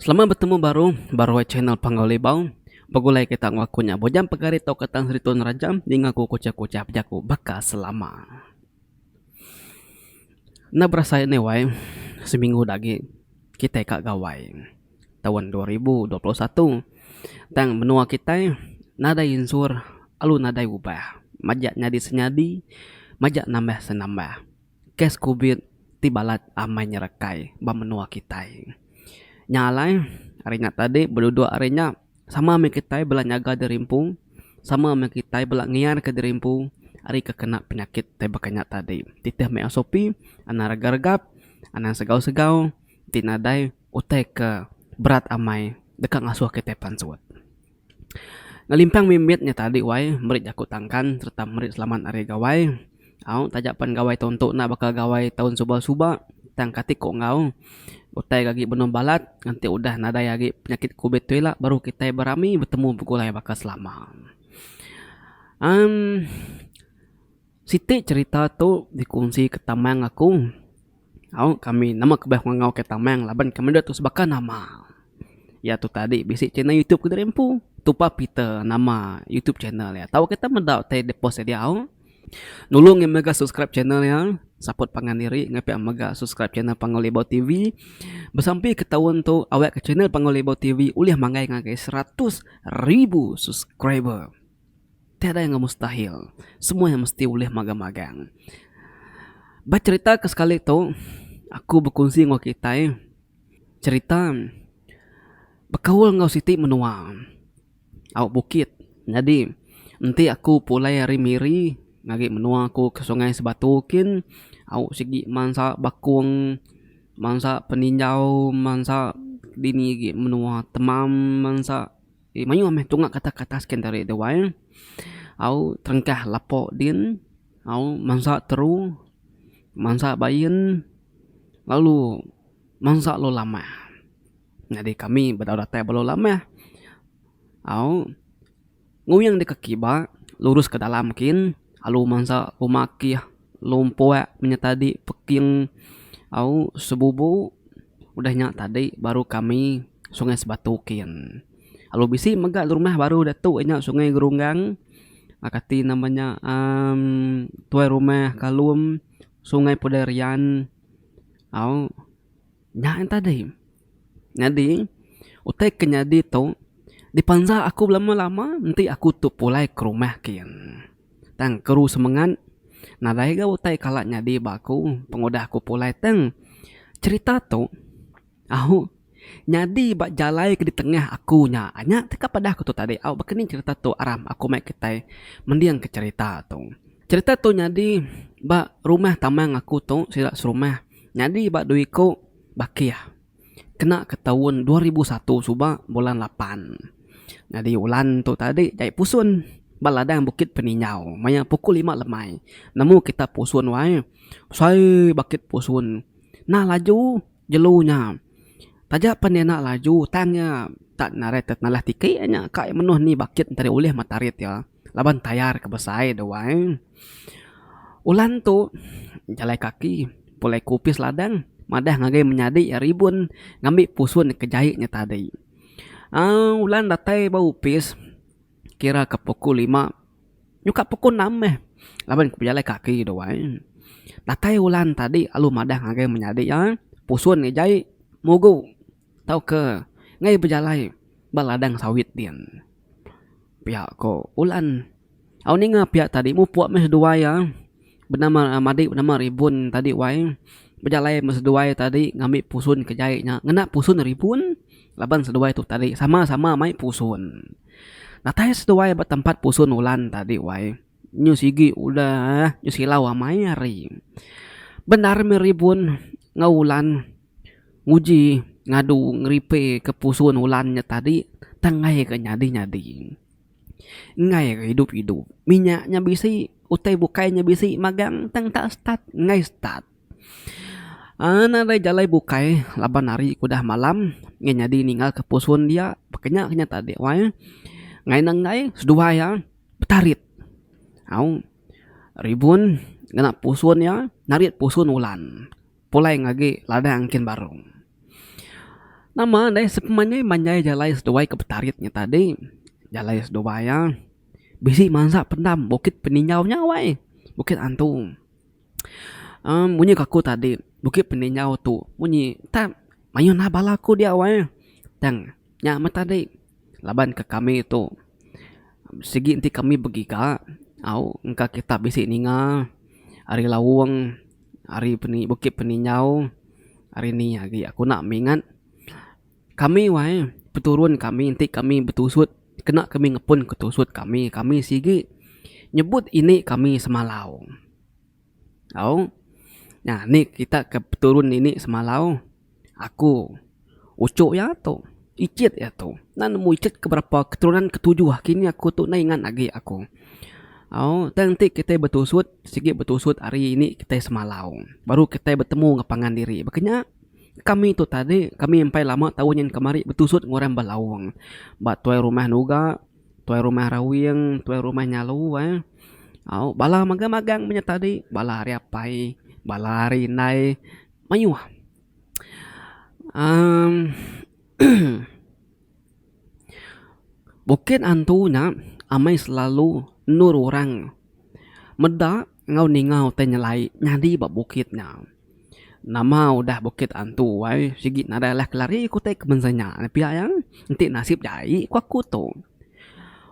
Selamat betemu baru baruai channel Panggau Libau. Begulai kita enggau aku nya bujang pegari tauka Tan Sri Tun Raja ninga aku kuchah-kuchah bejaku baka selama. Enda berasai neh wai seminggu da agi kitai ka gawai taun dua ribu dua puluh satu tang menua kitai nadai insur alu nadai ubah majak nyadi senyadi majak nambah senambah. kes kubit ti balat amai nyerekai ba menua kitai. Nya alai, ari nya tadi beduduk ari nya, sama meh kitai bela nyaga diri empu, sama meh kitai bela ngiarka diri empu ari ke kena penyakit tai baka nya tadi. Titih meh SOP, anang regap-regap, anang segau-segau ti nadai utai ke berat amai deka ngasuh kitai pansut. Ngelimpang mih mit nya tadi wai meri jaku tangkan sereta meri selamat ari gawai au taja pen gawai tu entu na baka gawai taun suba suba tang kati ku enggau utai agi benung balat enti udah nadai agi penyakit covid tu ila baru kitai berami betemu begulai baka selama. Amm. Siti cherita tu dikunsi ke Tamang aku. Au kami nama kebah ngangau ke Tamang laban kami dua tu sebaka nama. Iya tu tadi bisi channel YouTube ke diri empu. Tupa Peter nama YouTube channel iya. Tau kita meda utai dia post dia diau. Nulung iya mega subscribe channel iya. Support pangan diri enggau pia mega subscribe channel Panggau Libau TV. Besampi ke taun tu awakka channel Panggau Libau TV ulih manggai ngagai seratus ribu subscriber. Tiada yang mustahil. Semua yang mesti ulih magang-magang. Ba cherita ke sekali tu, aku bekunsi enggau kitai cherita bekaul enggau siti menua au bukit. Nyadi, enti aku pulai ari Miri ngagai menua aku ke Sungai Sebatu kin, au sigi mansa bakung, mansa peninjau, mansa dini agi menua temam, mansa. Ti mayuh meh tunga kata kata skin tadi tu wai au terengkah lapo din au mansa teru mansa bain lalu mansa lu lamah nyadi kami bedau datai ba lu lamah au nguing deka kiba lurus ke dalam kin alu mansa pemakih lompok menyet tadi peking au sebubu. Udah nya tadi baru kami Sungai Sebatu kin. Lalu bisi mega rumah baru diatu iya nya Sungai Gerunggang uhh kati nama nya uhh Tuai Rumah Kalum, Sungai Pudai Rian au nya intu tadi. Nyadi utai ke nyadi tu dipanjak aku belama-lama enti aku tu pulai ke rumah kin. Tang Keru semengat nadai ga utai kala nyadi ba aku pengudah aku pulai tang cherita tu au nyadi ba jalai ke ditengah aku nya nya te ka padah aku tu tadi au baka ni cherita tu arap aku mai kitai mending ke cherita tu. Cherita tu nyadi ba rumah tamang aku tu sida serumah nyadi ba due iku bakih. kena ke taun dua ribu satu suba bulan lapan nyadi ulan tu tadi jai pusun ba ladang bukit peninjau maya pukul lima lemai nemu kita pusun wae besai bakit pusun nah laju jelu nya taja pan iya enda laju tang iya tak narai tenalai tike nya kai menuh ni bakit nteri ulih mata rit iya. laban tayar ke besai de wai. Ulan tu jalai kaki pulai ke opis ladang madah ngagai menyadi iya ribun ngambi pusun ke jai nya tadi. uhh Ulan datai ba opis kira ke pukul lima nyuka pukul enam meh laban ke bejalai kaki de wai. Datai ulan tadi lalu madah ngagai menyadi iya pusun ke jai mugu. Tauka ngai bejalai ba ladang sawit din. Pia ko Ulan. Au ninga pia tadi mupuk meh seduai iya benama madi benama Ribun tadi wai bejalai meh seduai tadi ngambi pusun ke jai nya ngena pusun Ribun laban seduai tu tadi sama-sama mai pusun. Datai seduai ba tempat pusun Ulan tadi wai. Nyu sigi udah nyu silau amai ari bendar mih ribun enggau ulan nguji ngadu ngeripeka pusun ulan nya tadi tang ngaika nyadi nyadi ngaika idup idup minya nya bisi utai bukai nya bisi magang tang enta start enggai start aaa ena alai jalai bukai laban hari ku udah malam ngin nyadi ninga ka pusun dia pekenya ke nya tadi wai ngena enggai seduai iya. betarit. Au ribun ngena pusun iya narit pusun ulan pulai ngagi ladang kin baru. Nama deh sepemanjai manjai jalai seduai ke betarit nya tadi jalai seduai iya bisi mansa pendam bukit peningau nya wai bukit antu. uhh munyi ke aku tadi bukit peningau tu munyi entah mayuh nah bala aku dia wai tang. Nya meh tadi laban ke kami tu sigi enti kami begiga au engka kita bisi ninga ari laung ari bukit peninjau ari ni agi aku nak mingat kami wai peturun kami enti kami betusut kena kami ngepun ke tusut kami kami sigi nyebut ini kami semalau. Au. Nah, ni kita ke peturun ini semalau, aku, uchu iya tu, ichit iya tu. Enda nemu ichit ke berapa keturunan ke tujuh aki ni aku tu enda ingat agi aku. Au, tang enti kitai betusut, sigi betusut hari ini kitai semalau. Baru kitai betemu enggau pangan diri. Baka nya, kami tu tadi, kami empai lama tau nyin kemari betusut enggau orang belaung. Ba tuai rumah nuga. Tuai rumah Rawing, tuai rumah Nyalu ai. Au bala magang-magang inya tadi, bala ari apai, bala ari indai mayuh uhh bukit antu nya amai selalu endur orang meda enggau ningau tai nyelai nyadi ba bukit nya. Nama udah bukit antu ai sigi nadai alah kelari ku utai kemensia nya pia iya. Enti nasib nya ai ku aku tu.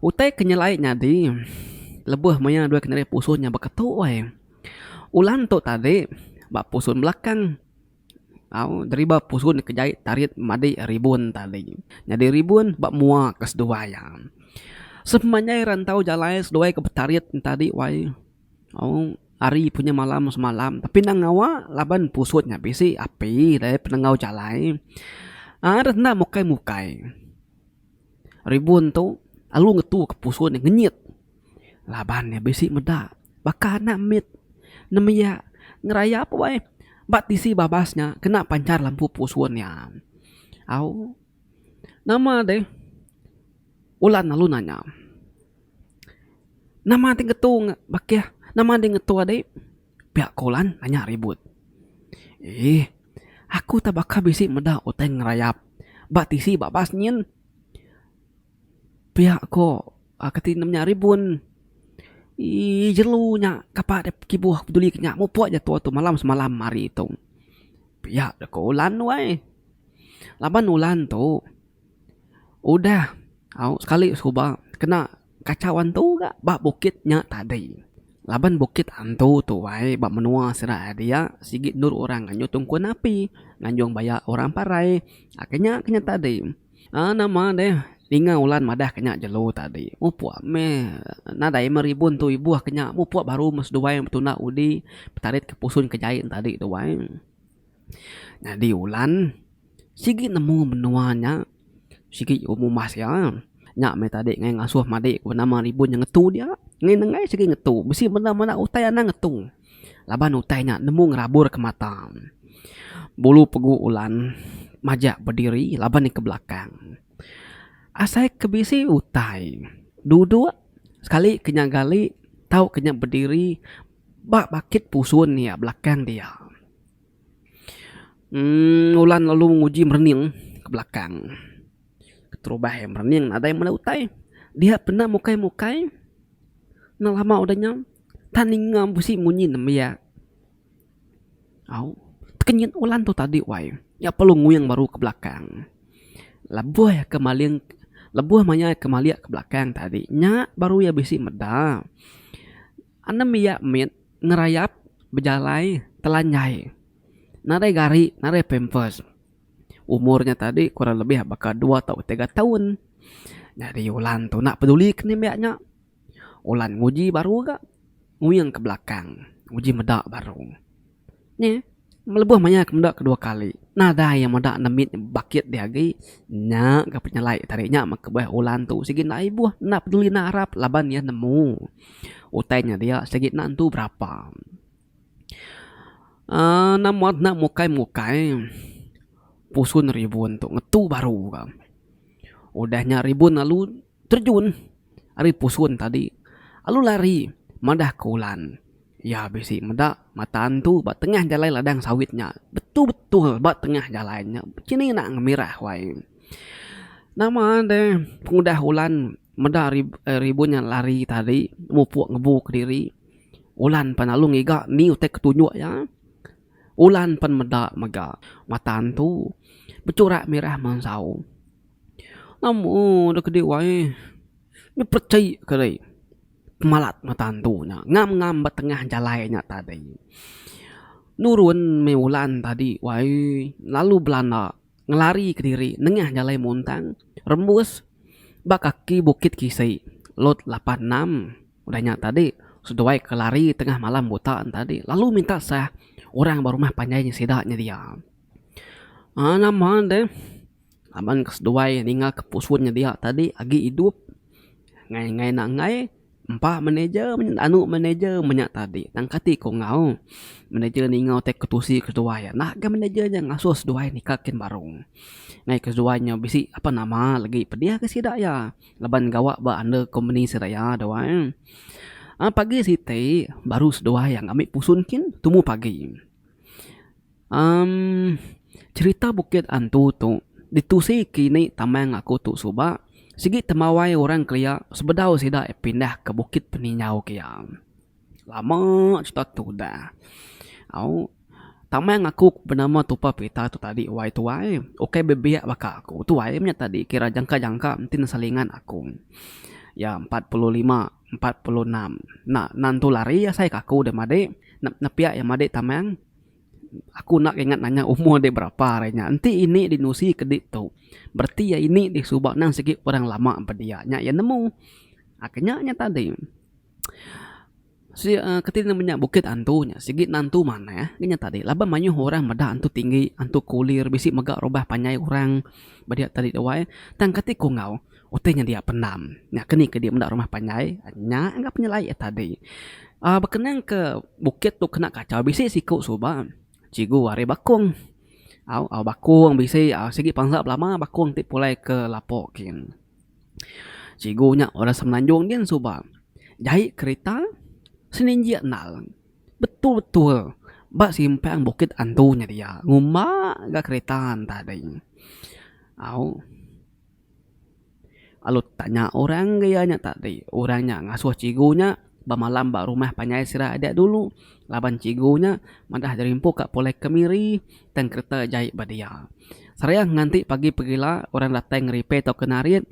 Utai ke nyelai nyadi lebuh maya dua keneri pusun nya beketu ai. Ulan tu tadi ba pusun belakang au deriba pusun ke jai tarit madi ribun tadi. Nyadi ribun ba mua ke seduai iya. Sepanjai rantau jalai seduai ke betarit tadi wai. Ari punya malam semalam tapi enda ngawa laban pusut nya bisi api dayah penengau jalai aaa deh enda mukai mukai ribun tu lalu ngetu ka pusut nya ngenyit laban nya bisi meda baka anak mit nembiya ngerayap weh ba tisi babas nya kena panchar lampu pusut nya au nama deh. Ulan lalu nanya, Nama ti ngetu bakih? Nama deh ngetu adi? Pia ko Ulan nanya ribut. Eeh, aku ta baka bisi meda utai ngerayap ba tisi babas nyin. Pia ko kati ne menya ribun. Eeh, jelu nya kapa deh kibuh peduli ke nya. Mupok aja tua tu malam semalam ari tu. Pia ko Ulan weh. Laban Ulan tu. Udah au sekali suba kena kachau antu ga ba bukit nya tadi laban bukit antu tuai ba menua sida ari dia sigi endur orang nganjung tungkun api nganjung baya orang parai aka nya ke nya tadi aaa nama deh ninga ulan madah ke nya jelu tadi mupok meh nadai meh ribun tu ibuh ke nya mupok baru meh seduai betunda udi betarit ke pusun ke jai tadi tuai. Nyadi ulan sigi nemu menua nya sigi umas iya nya meh tadi ngaih ngasuh madi ku nama ribun nya ngetu dia ngin ne ngaih sigi ngetu bisi menda menda utai anang ngetu laban utai nya nemu ngerabur ke mata bulu pegu ulan majak bediri laban iya ke belakang asai ke bisi utai dudok sekali ke nya gali tau ke nya bediri Ba bakit pusun iya belakang dia. Emm ulan lalu nguji merening ke belakang. Keterubah iya merening nadai meda utai. Dia penda mukai mukai enda lama udah nya tan ninga bisi munyi nembiak. Au tekenyit ulan tu tadi wai. Iya perlu nguing baru ke belakang. Lebuh iya ke maling lebuh maya iya ke malik ke belakang tadi nya baru iya bisi meda. Anem iya mit ngerayap bejalai telanjai nadai gari nadai pampers. Umur nya tadi kurang lebih baka dua tau tiga taun. Nyadi Ulan tu enda peduli ke nembiak nya. Ulan nguji baru ga nguing ke belakang nguji meda baru. Nya, melebuh maya ke meda kedua kali, nadai iya meda nemit bakit dih agi. Nya ga penyelai tadi nya mekebeh Ulan tu sigi enda ibuh, enda peduli enda arap laban iya nemu utai nya dia sigi enda nentu berapa. uhh enda muat enda mukai-mukai pusun ribun tu ngetu baru ga. Udah nya ribun lalu. Terjun ari pusun tadi lalu lari madah ke ulan. Iya bisi meda mata antu ba tengah jalai ladang sawit nya. Betul-betul ba tengah jalai nya chini enda ngemirah wai. Nama deh pengudah ulan meda ribun nya lari tadi mupuk ngebu kediri ulan pan lalu ngiga nih utai ke tunjuk iya. Ulan pan meda mega mata antu bechurak mirah mansau. Amu da kedi wae nya pechai ka dei pemalat mata antu nya ngam ngam ba tengah jalai nya tadi nurun meh ulan tadi wae lalu belanda ngelari ke diri nengah jalai muntang rembus ba kaki bukit kisi lot lapan enam udah nya tadi seduai ke lari tengah malam buta nya tadi lalu minta sah orang ba rumah panjai sida nya dia aaa nama deh. Laban ke seduai ninga ke pusun nyedia tadi agi idup ngai ngai nak ngai empa manager menyet anu manager menya tadi tang kati ku enggau manager ninga utai ke tusi ke seduai enda ga manager nya ngasuh seduai nika kin baru ngai ke seduai nya bisi apan nama lagi pedih ga sida iya laban gawa ba under company sida iya tu ai pagi siti baru seduai ngambi pusun kin tumu pagi. Umm cherita bukit antu tu ditusi kini tama ngaku tu suba sigi temawai orang kelia sebedau sida pindah ke bukit peningau kia. Lama cherita tu udah au tama ngaku benama tupa pita tu tadi wai tuai ukai bebiak baka aku tuai nya tadi kira jangka jangka enti ne selingan aku iya empat puluh lima empat puluh enam enda enda entu lari asai ka aku deh madik nepiak iya madik tama. Aku enda ingat nanya umur dia berapa hari nya. Enti ini dinusi ke ditu, bereti iya ini deh suba endang sigi orang lama ba dia nya iya nemu. Aku nya nya tadi. Sik uhh kati ne menya bukit antu nya sigi ne antu manah ngin nya tadi laban mayuh orang meda antu tinggi, antu kulir bisi mega rumah panjai orang ba dia tadi wai. Tang kati ku enggau utai nya dia pendam nya ke ni ke dia meda rumah panjai nya ngah penyelai ia tadi uhh bekenang ke bukit tu kena kachau bisi siku suba cikgu ari bakung au au bakung bisi uhh sigi panza belama bakung ti pulai ke lapo gin cikgu nya orang semenanjung gin suba jai kerita seninjik endar betul betul ba simpang bukit andu nya dia ngumba ga kerita nya tadi au. Lalu tanya orang ke iya nya tadi. Orang nya ngasuh cikgu nya bemalam ba rumah panjai sida adik dulu laban cikgu nya madah jerimpu ka pulai kemiri tang kereta jai ba dia. Serangga nganti pagi pegila orang datai nge repair tauka narit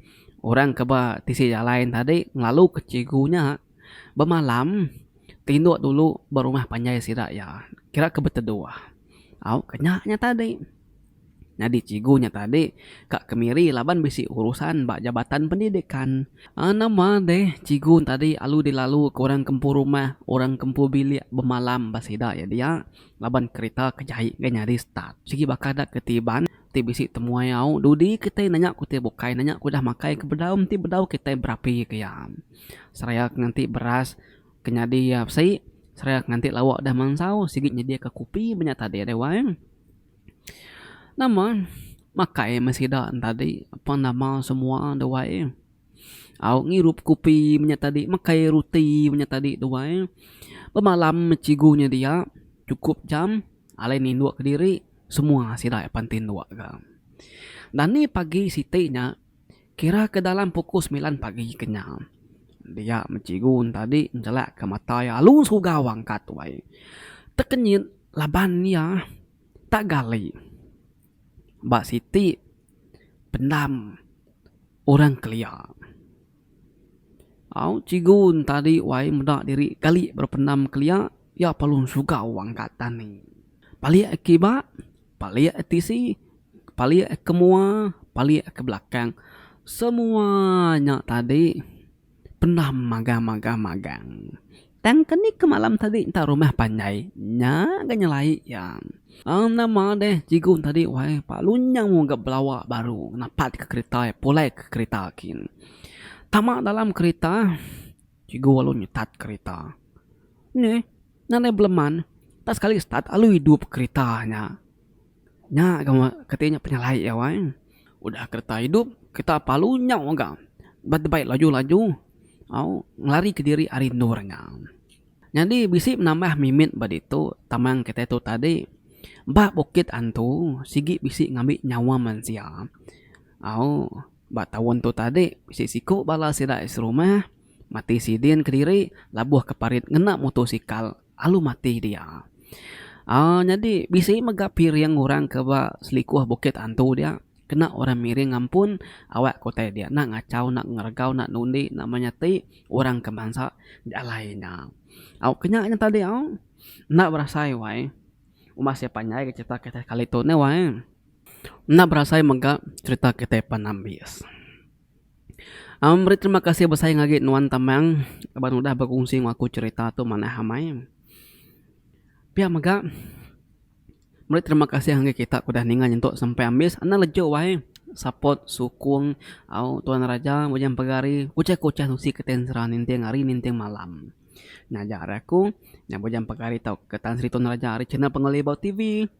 orang ke ba tisi jalai tadi ngelalu ke cikgu nya. Bemalam, tinduk dulu ba rumah panjai sida iya kira ke beteduh. Au ke nya nya tadi. Nyadi cikgu nya tadi ka kemiri laban bisi urusan ba Jabatan Pendidikan. Nama deh cikgu tadi alu dilalu ke orang ke empu rumah, orang ke empu bilik bemalam ba sida iya dia laban kerita ke jai enggai nyadi start. Sigi baka da ke ti iban ti bisi temuai au dudi kitai nanya ku ti bukai nanya ku udah makai ke bedau enti bedau kitai berapi ke iya. seraya ke nganti beras ke nyadi iya besi seraya ke nganti lauk dah mansau sigi nyediaka kopi ba nya tadi deh wai. Nama makai meh sida ne tadi apan nama semua deh wai au ngirup kopi ba nya tadi makai ruti ba nya tadi deh wai. Bemalam meh chigu nya dia chukup jam alai nindok kediri semua sida apan tindok ga. Dani pagi siti nya. Kira ke dalam pukul semilan pagi kenyau, dia meh cikgu tadi njelakka mata iya alu segau angkat wai. Tekenyit laban iya tak gali ba siti pendam orang kelia. Au cikgu tadi wai meda diri gali ba pendam kelia, iya perlu segau angkat tani. Balik kiba, Palik tisi, palik ke mua, palik ke belakang, semua nya tadi pendam magang magang magang. Tang ke ni ke malam tadi enta rumah panjai nya ga nyelai iya. Enda madeh cikgu tadi wai pa lunyang mu ga belawa baru napat ke kerita pulai ke kerita kin. Tama dalam kerita. Cikgu walu nyetat kerita. Nya eh, nadai beleman, tak sekali start alu idup kerita nya. Nya gawa keti nya penyalai iya wai. Udah kereta idup, kereta pa alu nyau mega. Ba tebai laju-laju, au, ngelarika diri ari endur nya. Nyadi bisi penambah mimit ba ditu taman kitai tu tadi. Ba bukit antu, sigi bisi ngambi nyawa mensia. Au. Ba taun tu tadi, bisi siku bala sida ai serumah mati sidin kediri labuh ke parit ngena mutosikal lalu mati dia. uhh nyadi bisi mega piring orang ke ba selikoh Bukit Antu dia kena orang miring ampun awak ke utai dia enda ngachau enda ngeregau enda nundi enda menyati orang ke bansa di alai nya. Au ke nya ngagai tadi au enda berasai wai uma seh panjai ke cerita kali tu neh wai. Enda berasai mega cerita kitai pan ambis. Amang meri terima kasih besai ngagi nuan Tamang laban udah berkongsi ngan aku cerita tu manah amai. Pia mega meri terima kasih ngagi kita ke udah ninga nyentuk sampai ambis enda lejok wai support sukung au tuan raja ujan pegari uchai ke uchai usi ke tai sera ninting hari ninting malam ngajar aku nya ujan pegari tau ke Tan Sri Tun Raja ari channel Pengelebau TV.